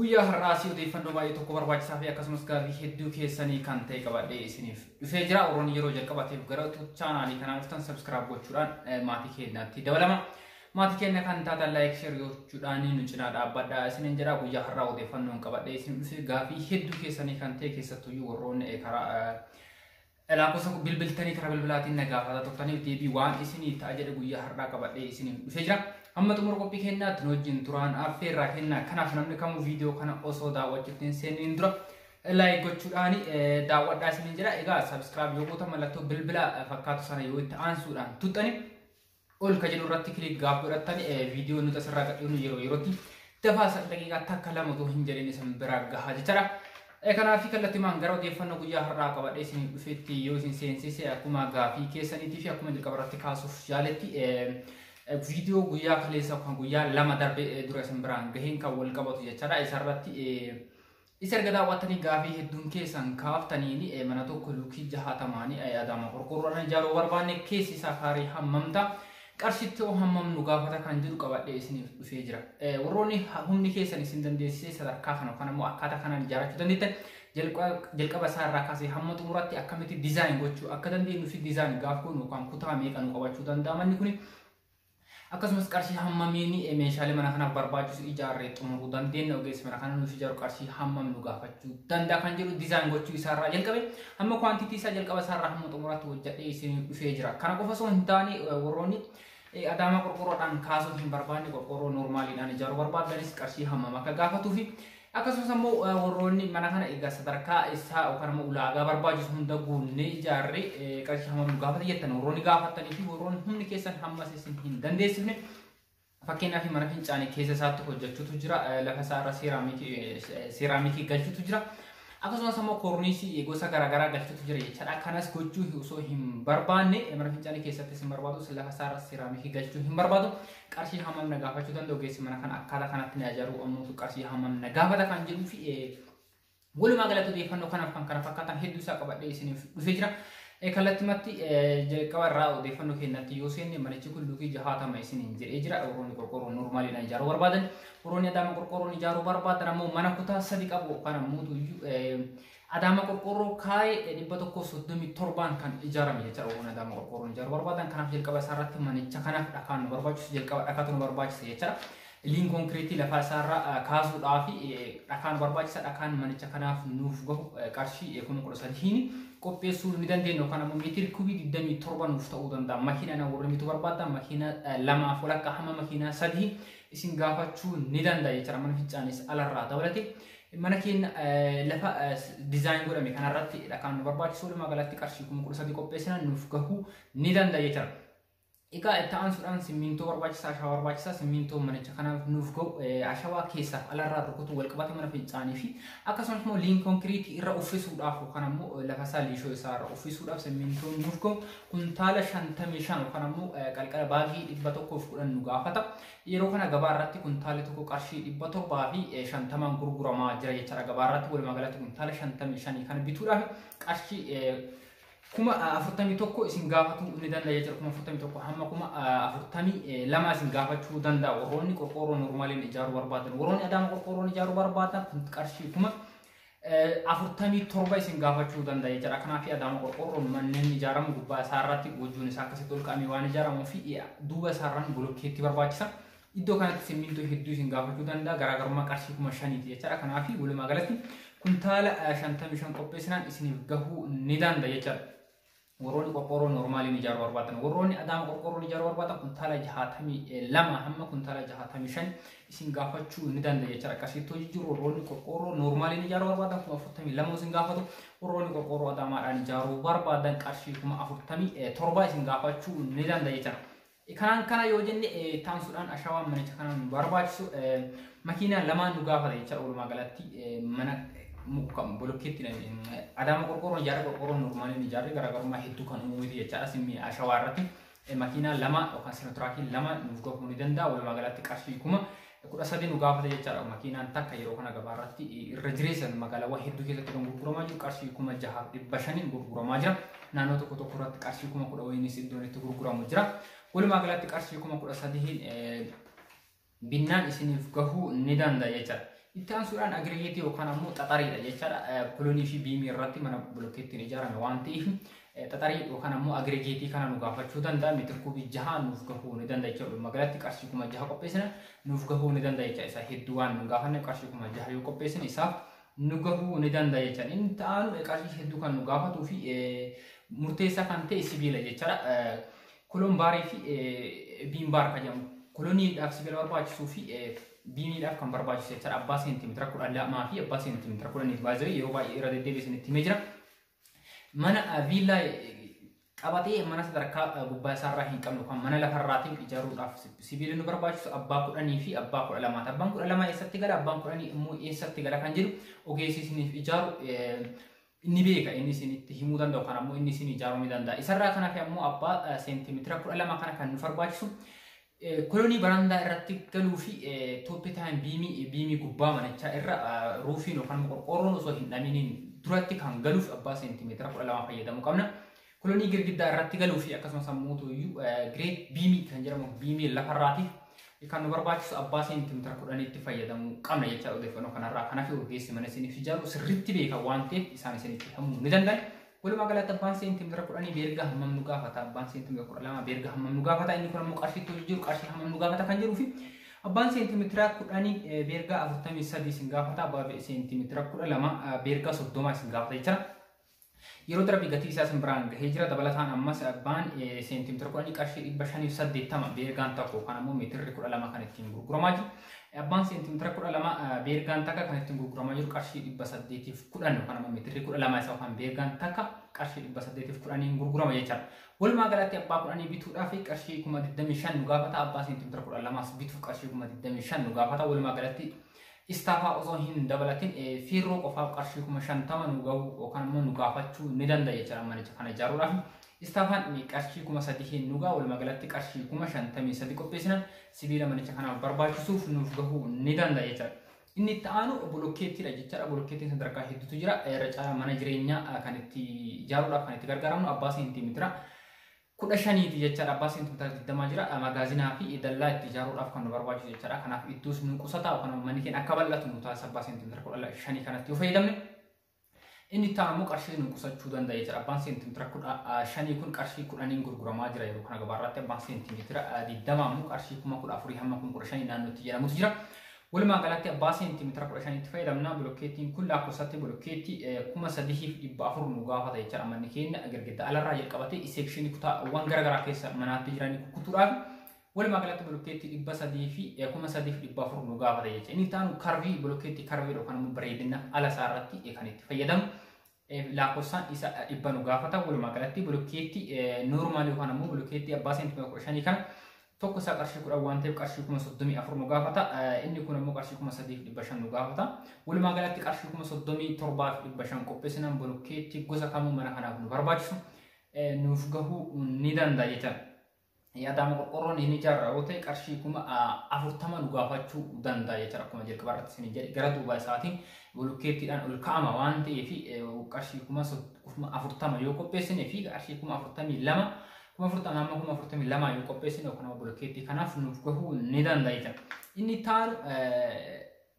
Guyyaa har'aas odeeffannoo baay'ee tokko barbaachisaa fi akkasumas gaaffii hedduu keessanii kan ta'e qabadhee isiniif dhufee jira. Warroonni yeroo jalqabaatiif gara YouTube chaanaalii kanaa dhuftan subscribe gochuudhaan eh, maatii keenyaatti dabalama. Maatii keenya kan taatan like share gochuudhaan nu cinaa dhaabbadhaa isiniin jedha. Guyyaa har'aa odeeffannoon qabadhee isiniif dhufe gaaffii hedduu keessanii kan ta'e keessattuyyuu warroonni eh, karaa eh, Laakkosa bilbiltanii karaa bilbilaatiin na gaafataa turtaniif deebii waan isinii ta'a jedhe guyyaa har'aa qabadhee isiniif dhufee jira. Hamma xumura qophii kennaatti nu wajjin turaan affeerraa kennaa. Kanaaf namni kamuu viidiyoo kana osoo daawwachuutti hin seeniin dura laayik gochuudhaan daawwadhaa isiniin jedha. Egaa sabiskiraayib yoo gootan mallattoo bilbila fakkaatu sana yoo itti aansuudhaan tuttani Ol ka jedhu irratti click gaaf godhattan viidiyoo nuti asirraa gadhiifnu yeroo yerootti dabaasa daqiiqaa takka lama utuu hin jedhin isin bira gahaa jechaadha. Kanaaf kallattimaan gara odeeffannoo guyyaa har'aa qabadhee isin dhufetti yoo isin seensise akkuma gaafii keessaniitii fi akkuma jalqaba irratti kaasuuf yaaletti viidiyoo guyyaa kaleessa kan guyyaa lama darbe dura isin biraan gaheen kan wal qabatu jechaadha. Isarratti Is erga daawwattanii gaafii hedduun keessan kaaftaniin mana tokko luukii jahaatamaani Adaama qorqoorroodhaan ijaaruu barbaanne keessi isaa kaarii hammam ta'a qarshitti hoo hammam nu gaafata kan jedhu qabadhee isiniif dhufee jira. Warroonni humni keessan isin dandeessisee sadarkaa kana yookaan immoo akkaataa kanaan ijaarrachuu dandeettan jalqaba isaa irraa kaasee hamma xumuratti akkamitti dizaayin gochuu akka dandeenyu fi dizaayin gaaf goonu yookaan kutaa meeqa nu qabachuu danda'a manni kuni Akkasumas qarshii hammamiin meeshaalee mana kanaaf barbaachisu ijaarree xumuruu dandeenya ogeessi mana kana nuuf ijaaru qarshii hammam nu gaafachuu danda'a kan jedhu dizaayin gochuu isaarraa jalqabe hamma kwaantitii isaa jalqaba isaarraa hamma xumuraatti hojjedhee isin dhufee jira. Kana qofa osoo hin taane warroonni adaamaa qorqoorroodhaan kaasuu hin barbaanne qorqoorroo normaaliidhaan ijaaruu barbaadanis qarshii hammam akka gaafatuu fi Akkasumas ammoo warroonni mana kana egaa sadarkaa isaa yookaan ammoo ulaagaa barbaachisu hunda guunnee ijaarre qarshii hammam nu gaafata jettan warroonni gaafatanii fi warroonni humni keessan hammas isin hin dandeessifne fakkeenyaaf mana fincaanii keessa isaatti hojjechuutu jira lafa isaa irra seeraamikii galchuutu jira. Akkasumas ammoo koorniisii gosa garaagaraa galchuutu jira jechaadha. Kanas gochuu osoo hin barbaanne mana fincaanii keessatti isin barbaadu lafa isaa irra seeraamikii galchuu hin barbaadu. Qarshii hammam na gaafachuu danda'u ogeessi mana kana akkaataa kanatti na ijaaruu ammoo qarshii hammam na gaafata kan jedhuu fi walumaa galatti odeeffannoo kanaaf kan kana fakkaatan hedduu isaa qabadhee isiniif dhufee jira. Kallattumatti jalqaba irraa odeeffannoo keenyatti yoo seenne manichi kun luukii jahaatama isiniin jedhee jira. Warroonni qorqoorroo normaaliidhaan ijaaruu barbaadan, warroonni adaama qorqoorroon ijaaruu barbaadan ammoo mana kutaa sadi qabu yookaan ammoo Adaama qorqoorroo kaa'e 137n kan ijaarame jecha Oromoon Adaama qorqoorroon ijaaruu barbaadan kanaaf jalqaba isaa irratti manicha kanaaf dhakaan nu barbaachisu jalqaba dhakaatu nu barbaachisa jecha liin konkiriitii lafaa isaa irraa kaasuudhaaf dhakaan nu barbaachisa dhakaan manicha kanaaf nuuf gahu qarshii kuma kudha sadiin qopheessuu ni dandeenya yookaan ammoo meetiri kubii 27 nuuf ta'uu danda'a makiinaa warri mitu barbaadda makiinaa lamaaf walakkaa hamma makiinaa sadii isin gaafachuu ni danda'a jecha mana fincaanis alarraa dabalate Mana keenya lafa dizaayin godhame kanarratti dhakaan nu barbaachisu walumaa galatti qarshii kuma kudha sadii qopheessina nuuf gahuu ni danda'a jechuudha. Egaa itti aansuudhaan simmintoo barbaachisaa ashawaa barbaachisaa simmintoo manicha kanaaf nuuf ga'u ashawaa keessaa alarraa rukutuu walqabata mana fincaanii fi akkasumas immoo liin konkiriitii irra uffisuudhaaf yookaan ammoo lafa isaa liishoo isaa irra uffisuudhaaf simmintoon nuuf ga'u kuntaala shantamii shan yookaan ammoo qalqala baagii dhibba tokkoof kudhan nu gaafata. Yeroo kana gabaa irratti kuntaalli tokko qarshii 750n gurguramaa jira jechaadha. Gabaa irratti walumaa galatti kuntaala 55 kana bituudhaaf qarshii kuma 41 isin gaafatuu ni danda'a jechuudha. Kuma 41 hamma kuma 42 isin gaafachuu danda'a. Warroonni qorqoorroo normaaliin ijaaruu barbaadan, warroonni adaama qorqoorroon ijaaruu barbaadan qarshii kuma afurtamii torba isin gaafachuu danda'a jechuudha. Kanaaf adaama qorqoorroon manneen ijaaramu gubbaa isaa irratti gochuun isaa akkasitti ol ka'amee waan ijaaramuuf duuba isaa irraan bolokkeetti barbaachisa. Iddoo kanatti simmintoo hedduu isin gaafachuu danda'a garaagarummaa qarshii kuma shaniiti jechuudha. Kanaaf walumaa galatti kuntaala shantamii shan qopheessinaan isiniif gahuu ni danda'a jechuudha. Warroonni qorqoorroo noormaaliin ijaaruu barbaaddan warroonni adaama qorqoorroon ijaaruu barbaaddan kuntaala jahaatamii lama hamma kuntaala jahaatamii shan isin gaafachuu ni danda'a jechuudha. Akkasitti hojii jiru warroonni qorqoorroo noormaaliin ijaaruu barbaaddan kuma afurtamii lama isin gaafatu warroonni qorqoorroo adaamaadhaan ijaaruu barbaaddan qarshii kuma afurtamii torba isin gaafachuu ni danda'a jechuudha. Kanaan kana yoo jenne taansuudhaan ashawaan manicha kanaan nu barbaachisu makiinaa lamaan nu gaafata jecha walumaa galatti mana muka bolokkeetti adaama qorqoorroon ijaarra qorqoorroon normaaliin ijaarri garaagarummaa hedduu kan uumuuti jechaadha simmi ashawaa irratti makiinaa lama yookaan sinotiraakii lama nuuf gahuu ni danda'a walumaa galatti qarshii kuma kudha sadii nu gaafata jechaadha makiinaan takka yeroo kana gabaa irratti irra jireessan magaalaawwan hedduu keessatti kan gurguramaa jiru qarshii kuma jahaaf dhibba shaniin gurguramaa jira naannoo tokko tokko irratti qarshii kuma kudha wayiinis iddoon itti gurguramu jira walumaa galatti qarshii kuma kudha sadiin binnaan isiniif gahuu ni danda'a jechaadha. Itti aansuudhaan agirigeetii yookaan ammoo xaxariidha jechaadha. Kolonii fi biimii irratti mana bilookeettiin ijaarame waan ta'eef xaxarii yookaan ammoo agregeetii kana nu gaafachuu danda'a meetira kuubii jaha nuuf gahuu ni danda'a jechuudha. Walumaa galatti qarshii kuma jaha qopheessina nuuf gahuu ni danda'a jechuudha. Isa hedduu waan nu gaafanne qarshii kuma jaha yoo qopheessine isaaf nu gahuu ni danda'a jechuudha. Inni ta'an qarshii hedduu kan nu gaafatuu fi murteessaa kan ta'e sibiila jechuudha. Kuloon baarii fi biin baar kan jedhamu kulooniidhaaf sibiila barbaachisuu fi biiniidhaaf kan barbaachisu jechuudha. Abbaa seentimeetira kudha lamaa fi abbaa seentimeetira kudhaniif baay'ee yeroo baay'ee irra deddeebi'ee isinitti himee jira. mana viillaa qabatee mana sadarkaa gubbaa isaarraa hin qabnu kan mana lafarraatiin ijaaruudhaaf sibiilli nu barbaachisu abbaa kudhanii fi abbaa kudha lamaati. Abbaan kudha lamaa eessatti gala abbaan kudhanii immoo eessatti gala kan jedhu ogeessi isiniif ijaaru ni beeka inni isinitti himuu danda'u kan ammoo inni isin ijaaruu ni danda'a. Isarraa kan hafe ammoo abbaa seentimeetira kudha lama kana kan nu barbaachisu Kolonii barandaa irratti galuu fi tooppi taayim biimii biimii gubbaa manichaa irra ruufiin yookaan qorqoorroon osoo hin dhaminiin duratti kan galuuf abbaa seentimeetira kudha lama fayyadamuu qabna. Kolonii girgiddaa irratti galuu fi akkasumas ammoo iyyuu gireet biimii kan jedhamu biimii lafarraatiif kan nu barbaachisu abbaa seentimeetira kudhanitti fayyadamuu qabna jecha odeeffannoo kanarraa kanaaf ogeessi mana isiniif ijaaru sirriitti beeka waan ta'eef isaan isinitti himuu ni danda'u. Walumaa galatti abbaan seentimeetira kudhanii beergaa hammam nu gaafata abbaan seentimeetira kudha lama beergaa hammam nu gaafata inni kun ammoo qarshiitti hojii jiru qarshii hammam nu gaafata kan jedhuu fi abbaan seentimeetira kudhanii beergaa afurtamii sadii isin gaafata abbaa seentimeetira kudha lama beergaa soddoma isin gaafata jechuudha. Yeroo darbii gatii isaa isin biraan gahee jira dabalataan ammas abbaan seentimeetira kudhanii qarshii dhibba shanii fi saddeettama beergaan tokko kan ammoo meetirri kudha lama kan ittiin gurguramaa jiru. Abbaan seentimeetira kudha lama beergaan takka kan ittiin gurguramaa jiru qarshii dhibba saddeetiif kudhan yookaan ammoo meetirri kudha lama isa yookaan beergaan takka qarshii dhibba saddeetiif kudhaniin gurgurama jechaadha. Walumaa galatti abbaa kudhanii bituudhaaf qarshii kuma digdamii shan nu gaafata abbaa seentimeetira kudha lamaas bituuf qarshii kuma digdamii shan nu gaafata walumaa galatti istaafaa osoo hin dabalatin fiirroo qofaaf qarshii kuma shantama nu ga'u yookaan immoo nu gaafachuu ni danda'a jechaadha manicha kana ijaaruudhaaf. Istaafaan qarshii kuma sadii nu ga'a walumaa galatti qarshii kuma shantamii sadii qopheessinan sibiila manicha kanaaf barbaachisuuf nuuf gahuu ni danda'a jechaadha. Inni itti aanu bolokkeettiidha jechaadha. Bolokkeettiin sadarkaa hedduutu jira. Irra caalaa mana jireenyaa kan itti ijaaruudhaaf kan itti gargaaramnu abbaa seentimeetira kudha shaniiti jechaadha. Abbaa seentimeetira digdamaa jira. Magaazinaa fi dallaa itti ijaaruudhaaf kan nu barbaachisu jechaadha. Kanaaf iddoos nu qusataa yookaan manni keenya akka bal'atu nu taasisa abbaa seentimeetira kudha shanii kanatti yoo fayyadamne. Inni itti aanu qarshii nu qusachuu danda'a jechuudha. Abbaan seentimeetira kudha shanii kun qarshii kudhaniin gurguramaa jira yeroo kana gabaarratti abbaan seentimeetira digdama ammoo qarshii kuma kudha afurii hamma kuma kudha shanii naannootti jedhamutu jira. Walumaa galatti abbaa seentimeetira kudha shanitti fayyadamna bilokkeettiin kun lakkoofsatti bilokkeetti kuma sadihiif dhibba afur nu gaafata jechuudha. Manni keenya girgidda alarraa jalqabatee iseekshinii kutaawwan garaagaraa keessa manaatti jiran kukkutuudhaaf Walumaa galatti bulukkeetti dhibba sadii fi kuma sadii fi dhibba afur nu gaafata jecha. Inni itti aanu karvii bulukkeetti karvii dha yookaan immoo bareedina ala isaa irratti kan itti fayyadamu. Lakkoofsaan isa dhibba nu gaafata. Walumaa galatti bulukkeetti noormaalii yookaan immoo bulukkeetti abbaa seentimeetira kudha shanii kana tokko isaa qarshii kudhan waan ta'eef qarshii kuma soddomii afur nu gaafata. Inni kun immoo qarshii kuma sadii fi dhibba shan nu gaafata. Walumaa galatti qarshii kuma soddomii torbaa fi dhibba shan qopheessinaan bulukkeetti gosa kamuu mana kanaaf nu barbaachisu nuuf gahuu ni danda'a jechuudha. Adaama qorqorroon hin ijaarra yoo ta'e qarshii kuma afurtama nu gaafachuu danda'a jechuudha akkuma jalqaba irratti isin jedhe gara duuba isaatiin bulukkeettiidhaan ol ka'ama waan ta'eef qarshii kuma afurtama yoo qopheessine fi qarshii kuma afurtamii lama kuma afurtama amma kuma afurtamii lama yoo qopheessine yookaan bulukkeettii kanaaf nuuf gahuu ni danda'a jechuudha. Inni taanu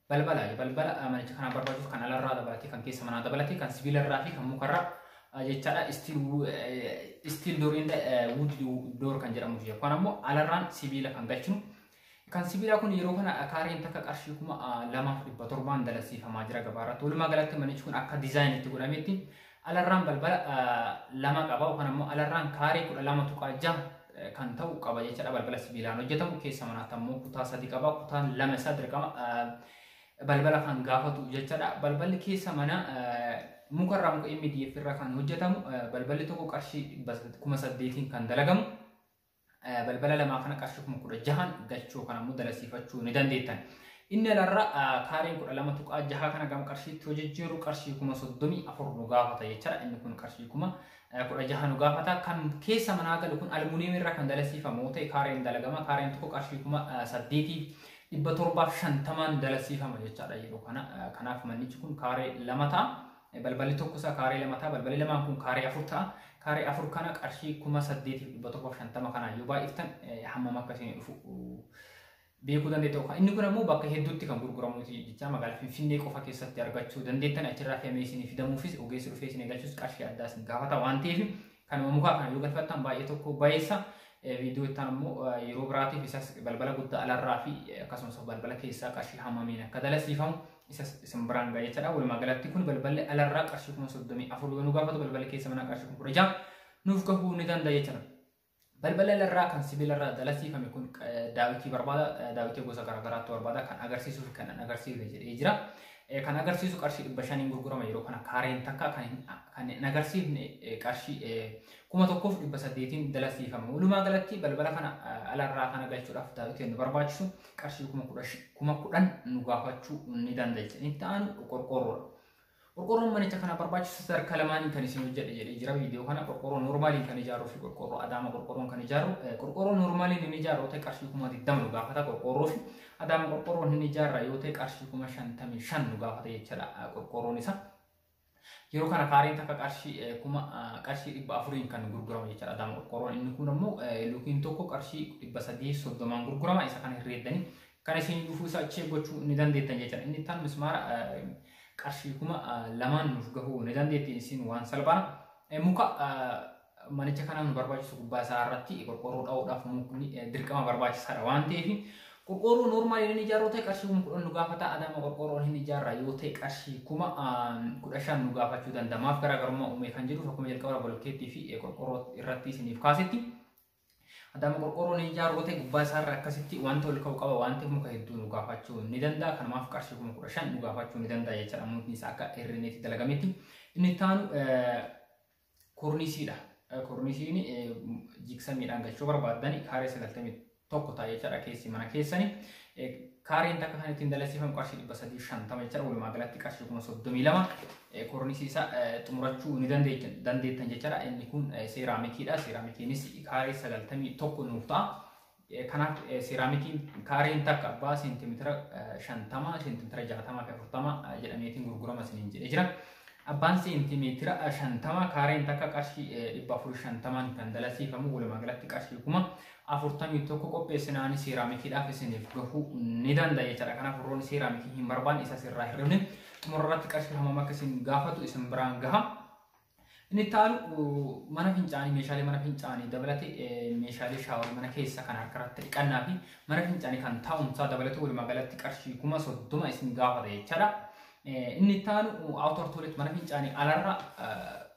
Balbala balbala manicha kanaa barbaachisu kan alarraa dabalatee kan keessa manaa dabalatee kan sibiilarraa fi kan mukarraa jechaadha istiil door inda wood door kan jedhamu jira. Kun ammoo alarraan sibiila kan galchinu. Kan sibiilaa kun yeroo kana kaareen takka qarshii kuma lamaaf dhibba torbaan dalagsiifamaa jira gabaarratti. Walumaa galatti manichi kun akka diizaayinitti godhametti Alarraan balbala lama qaba yookaan ammoo alarraan kaarii kudha lama tuqaa jaha kan ta'u qaba jechaadha balbala sibiilaan hojjetamu keessa manaatti ammoo kutaa sadi qaba kutaan lama isaa dirqama balbala kan gaafatu jechaadha balballi keessa mana mukarraa muka MDF irraa kan hojjetamu balballi tokko qarshii kuma saddeetiin kan dalagamu balbala lamaa kana qarshii kuma kudha jahan galchuu yookaan ammoo dalasiifachuu ni dandeettan. Inni alarra kaareen kudha lama tuqaa jaha kana gama qarshiitti yoo jijjiirru qarshii kuma soddomii afur nu gaafata jechaadha. Inni kun qarshii kuma kudha jaha nu gaafata. Kan keessa manaa galu kun almuuniyeemii irraa kan dalasiifamu yoo ta'e kaareen dalagama. Kaareen tokko qarshii kuma saddeetii dhibba torbaaf shantamaan dalasiifama jechaadha yeroo kana. Kanaaf mannichi kun kaaree lama ta'a. Balballi tokko isaa kaaree lama ta'a. Balballi lamaan kun kaaree afur ta'a. Kaaree afur kana qarshii kuma saddeetiif dhibba tokkoof shantama kanaan yoo baay'iftan hammam akka isin dhufu beekuu dandeettu. Inni kun ammoo bakka hedduutti kan gurguramu jecha magaalaa Finfinnee qofa keessatti argachuu dandeettan achirraa fe'amee isin fidamuufis ogeessi dhufee isin eegalchus qarshii addaa isin gaafata waan ta'eef Kanuma mukaa kana yoo galfattan baay'ee tokko bayeessa viidiyoo ittaan immoo yeroo biraatiif isas balbala guddaa alarraa fi akkasumas balbala keessaa qarshii hammamiin akka dalasiifamu isas isin biraan ga'a jechaadha. Walumaa galatti kun balballi alarraa qarshii kuma soddomii afur yoo nu gaafatu balballi keessa manaa qarshii kuma kudha ja'a nuuf gahuu ni danda'a jechaadha. Balbala larraa kan sibiilarraa dalasiifame kun daawitii barbaada. Daawitii gosa garaagaraatu barbaada. Kan agarsiisuu fi kan agarsiifne jedhee jira. Kan agarsiisu qarshii dhibba shaniin gurgurama yeroo kana kaareen takka kan hin agarsiifne qarshii kuma tokkoof dhibba saddeetiin dalasiifama. Walumaa galatti balbala kana alarraa kana galchuudhaaf daawitiin nu barbaachisu qarshii kuma kudhan nu gaafachuu ni danda'a. Inni itti aanu qorqoorroodha. Qorqoorroon manicha kanaaf barbaachisu sadarkaa lamaaniin kan isin hojjedhe jedhee jira viidiyoo kana qorqoorroo normaaliin kan ijaaruu fi qorqoorroo adaama qorqoorroon kan ijaaru qorqoorroo normaaliin inni ijaaru ta'e qarshii kuma digdama nu gaafata qorqoorroo fi adaama qorqoorroon inni ijaarra yoo ta'e qarshii kuma shantamii shan nu gaafata jechaadha qorqoorroon isaa. Yeroo kana kaareen takka qarshii kuma qarshii dhibba afuriin kan gurguramu jechaadha adaama qorqoorroon inni kun ammoo luukiin tokko qarshii dhibba sadii soddomaan gurgurama isa kana herreeddanii Kan isin dhufuu isaa check gochuu ni dandeettan jechuudha. Inni ittaan mismaara qarshii kuma lamaan nuuf gahuu ni dandeetti isin waan salphaan muka manicha kanaa nu barbaachisu gubbaa isaa irratti qorqoorroo dha'uudhaaf mukni dirqama barbaachisaadha waan ta'eef qorqoorroo noormaal inni ijaaruu ta'e qarshii kuma kudhan nu gaafata adaama qorqoorroon hin ijaarra yoo ta'e qarshii kuma kudha shan nu gaafachuu danda'a maaf garaagarummaa uumee kan jedhuuf akkuma jalqaba bolkeettii fi qorqoorroo irratti isiniif kaasetti Adaama qorqoorroo ni ijaaru yoo ta'e gubbaa isaarra akkasitti wanti ol ka'u qaba waan ta'eef muka hedduu nu gaafachuu ni danda'a. Kanumaaf qarshii kuma kudha shan nu gaafachuu ni danda'a jechaadha. Mukni isaa akka herreneetti dalagametti. Inni itti aanu korniisiidha. Korniisiin jiksamiidhaan galchuu barbaaddan kaaree sagaltamii tokko ta'a jechaadha keessi mana keessani. Eh, Kaareen takka kan ittiin dalasiifan qarshii 350 jechaadha. Walumaa galatti qarshii 32 eh, kornisii isaa eh, xumurachuu ni dandeettan dandeettan jechaadha. Inni kun eh, seeraamikiidha. Seeraamikiinis kaaree 91 nuuf ta'a. Eh, Kanaaf eh, seeraamikiin kaareen takka abbaa seentimeetira eh, 50, seentimeetira 60 fi 40 eh, jedhameetiin gurgurama isiniin jedhee jira. Abbaan seentimeetira 50 kaareen takka qarshii eh, 450 kan dalasiifamu walumaa galatti qarshii kuma 41 qopheessina ani seeraamikiidhaaf isiniif gahuu ni danda'a jechaadha. Kanaaf warroonni seeraamikii hin barbaanne isa sirraa hir'ifne xumura irratti qarshii hammam akka isin gaafatu isin biraan gaha. Inni itti aanuu mana fincaanii meeshaalee mana fincaanii dabalatee meeshaalee shaaworii mana keessa kan harka irratti dhiqannaa fi mana fincaanii kan taa'umsaa dabalatee walumaa galatti qarshii kuma soddoma isin gaafata jechaadha. Inni itti aanu awutor toolet mana fincaanii alarra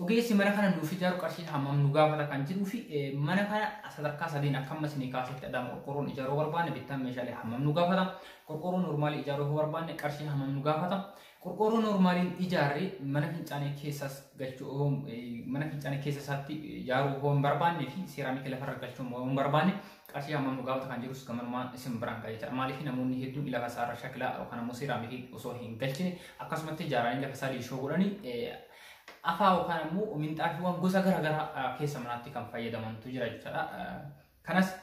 Ogeessi mana kana nuuf ijaaru qarshiin hammam nu gaafata kan jedhuu fi mana kana sadarkaa sadiin akka amma isinii kaasetti adama qorqoorroon ijaaruu barbaanne bittaan meeshaalee hammam nu gaafata qorqoorroo noormaalii ijaaruu yoo barbaanne qarshiin hammam nu gaafata qorqoorroo noormaaliin ijaarree mana fincaanii keessas galchuu mana fincaanii keessa isaatti ijaaruu yoo hin barbaanne fi seeraamikii lafarra galchuu yoo hin barbaanne qarshii hammam nu gaafata kan jirus gamanumaan isin biraan ga'ee jira. Maaliif namoonni hedduun lafa isaa irra shakilaa yookaan ammoo seeraamikii osoo hin galchine akkasumatti ijaaranii lafa isaa liishoo godhanii afaa yookaan ammoo minxaafiiwwan gosa garaagaraa keessa manaatti kan fayyadamantu jira jechuudha. Kanas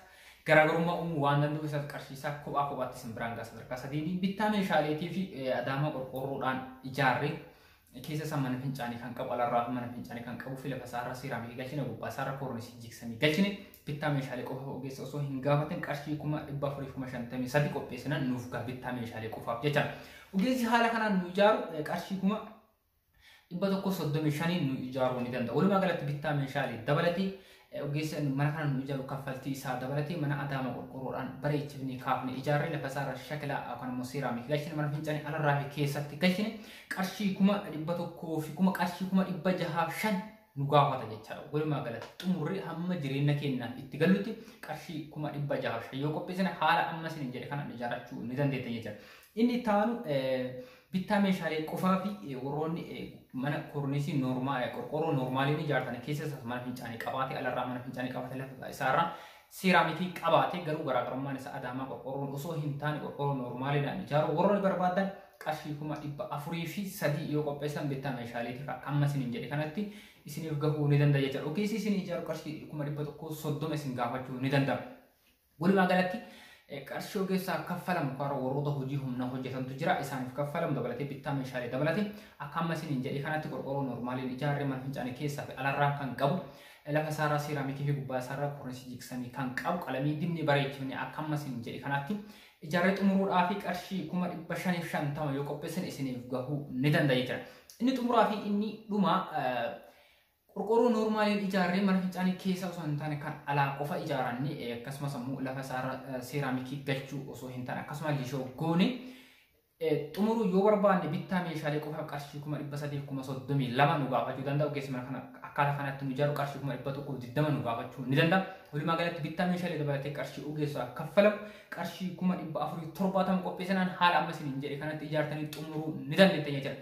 garaagarummaa uumuu waan danda'u isa qarshiisaa kophaa kophaatti isin biraan ga'a sadarkaa sadiin bittaa meeshaaleetii fi adaama qorqoorroodhaan ijaarree keessa isaa mana fincaanii kan qabu alarraa mana fincaanii kan qabu fi lafa isaarraa seeraamikii galchine gubbaa isaarra koornisii jiksanii galchine bittaa meeshaalee qofaaf ogeessa osoo hin gaafatin qarshii kuma dhibba afurii kuma shantamii sadii qopheessinan nuuf gaa bittaa meeshaalee qofaaf jecha ogeessi haala kanaan nu ijaaru qarshii kuma dhibba tokko soddomii shaniin nu ijaaruu ni danda'a walumaa galatti bittaa meeshaalee dabalatee Ogeessa inni mana kana nu ijaaru kaffaltii isaa dabalatee mana adaama qorqorroodhaan bareechifnee kaafne ijaarree lafa isaarra shakilaa yookaan immoo seeraamii galchine mana fincaanii alarraa fi keessatti galchine qarshii kuma dhibba tokkoo fi kuma qarshii kuma dhibba jahaaf shan nu gaafata jechaadha. Walumaa galatti xumurri hamma jireenya keenya itti galutti qarshii kuma dhibba jahaaf shan yoo qopheessine haala amma isin jedhe kanaan ijaarrachuu ni dandeetta jechaadha. Inni itti aanu bittaa meeshaalee qofaa fi warroonni mana korniisii noormaa qorqoorroo noormaaliin ijaartan keessa isaas mana fincaanii qabaate alarraa mana fincaanii qabaate lafa isaarraa seeraamikii qabaate garuu garaagarummaan isaa adaamaa qorqoorroon osoo hin taane qorqoorroo noormaaliidhaan ijaaruu warroonni barbaadan qarshii kuma dhibba afurii fi sadii yoo qopheessan bittaa meeshaaleetiif akka amma isin hin jedhe kanatti isiniif gahuu ni danda'a jechuudha. Ogeessi isin ijaaru qarshii kuma dhibba tokkoo soddoma isin gaafachuu ni danda'a. Walumaa galatti qarshii ogeessaaf kaffalamu karaa warroota hojii humnaa hojjetantu jira. Isaaniif kaffalamu dabalatee bittaa meeshaalee dabalate. Akka amma isiniin jedhee kanatti qorqorroo normaaliin ijaarree mana fincaanii keessaa fi alarraa kan qabu. Lafa isaarraa seeraamikii fi gubbaa isaarraa kornisii jigsamii kan qabu qalamii dibnee bareechifne akka amma isiniin jedhee kanatti ijaarree xumuruudhaa fi qarshii kuma dhibba shaniif shantama yoo qopheessan isiniif gahuu ni danda'a jechuudha. Inni xumuraa fi inni dhumaa Qorqoorroo noormaaliin ijaarree mana fincaanii keessa osoo hin taane kan alaa qofa ijaaranne akkasumas ammoo lafa isaarra seeraamikii galchuu osoo hin taane akkasumas lishoo goone xumuruu yoo barbaanne bittaa meeshaalee qofa qarshii kuma dhibba sadii kuma soddomii lama nu gaafachuu danda'a ogeessi mana kana akkaataa kanatti nu ijaaru qarshii kuma dhibba tokko digdama nu gaafachuu ni danda'a walumaa galatti bittaa meeshaalee dabalatee qarshii ogeessaa kaffalamu qarshii kuma dhibba afurii torbaatama qopheessinaan haala amma isiniin jedhe kanatti ijaartanii xumuruu ni dandeettan jechuudha.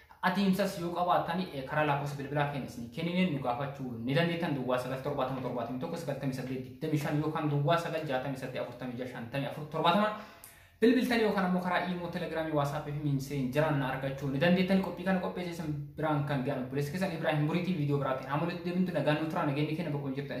Ta'atiinsas yoo qabaattan karaa laakofsa bilbilaa keenya isin kennineen nu gaafachuu ni dandeettan duwwaa 977719825 yookaan duwwaa 968465470 bilbiltan yookaan ammoo karaa iimoo telegiraamii waasaappii fi miimseen jiraan na argachuu ni dandeettan qophii kana qopheesseessan biraan kan ga'an obboleessi keessan Ibraahim Buriitii viidiyoo biraatiin haamolitti deebintu nagaan nu turaa nageenyi keenya bakka hin jirtan